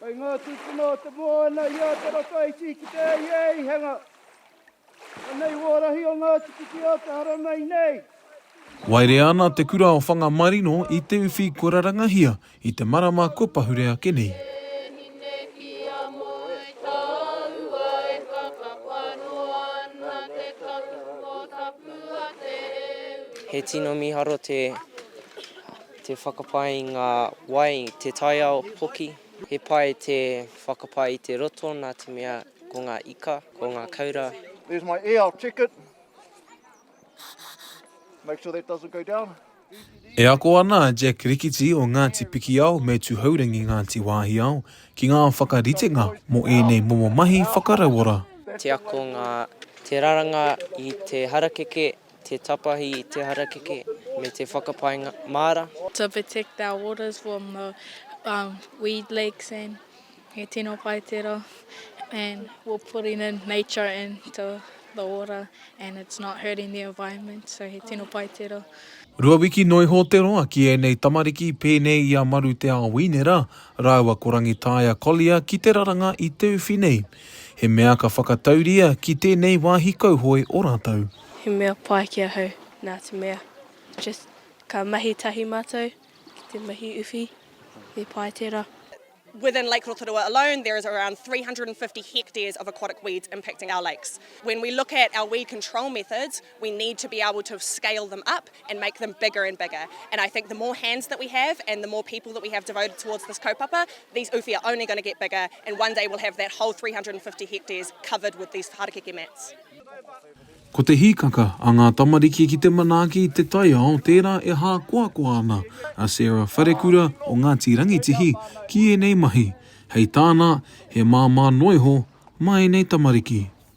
Kai ngā tūpuna o te moana i a Te Rataiti ki te Eieihanga. Anei wō rahi o ngā tikiti o te haramai nei. Waerea ana te kura o Whangamarino i te uwhi kua rarangahia i te marama kua pahure ake nei. He tino miharo te. Te whakapae i ngā wai, te taiao hoki. He pai te whakapae i te roto nā te mea ko ngā ika, ko ngā kaura. There's my e ao ticket. Make sure that doesn't go down. E ako ana a Jack Rikiti o Ngāti Pikiao me Tuhourangi Ngāti Wāhiao ki ngā whakaritenga mō ēnei momo mahi whakarauora. Te ako ngā te raranga i te harakeke Te tapahi i te harakeke me te whakapaenga māra. To protect our waters from the weed lakes and he tino pai tera and we're putting in nature into the water and it's not hurting the environment so he tino pai tera. Rua wiki noa iho te roa ki ēnei tamariki pēnei i a Maru Te Ao Inera rāua ko Rangitaia Collier ki te raranga i Teuwhi nei. He mea ka whakatauria ki tēnei wāhi kauhoe o rātou. He mea pai ki ahau, nā te mea, just ka mahi tahi mātou ki te mahi uwhi, he pai tērā. Within Lake Rotorua alone there is around 350 hectares of aquatic weeds impacting our lakes. When we look at our weed control methods, We need to be able to scale them up and make them bigger and bigger and I think the more hands that we have and the more people that we have devoted towards this kaupapa, these uwhi are only going to get bigger and one day we'll have that whole 350 hectares covered with these harakeke mats. Ko te hīkaka a ngā tamariki ki te manaaki i te taiao tērā e hākoakoa ana a Sarah Wharekura o Ngāti Rangitihi ki ēnei mahi, hei tāna, he māmā noa iho mā ēnei tamariki.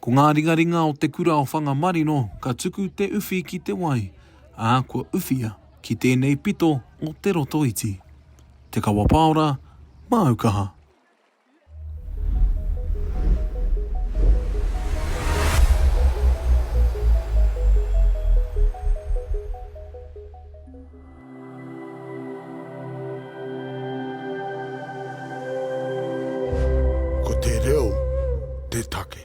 Ko ngā ringaringa o te kura o Whangamarino ka tuku te uwhi ki te wai, ā, kua uwhia ki tēnei pito o Te Rotoiti. Te Kawa Paora, māu kaha. Ko te reo te take.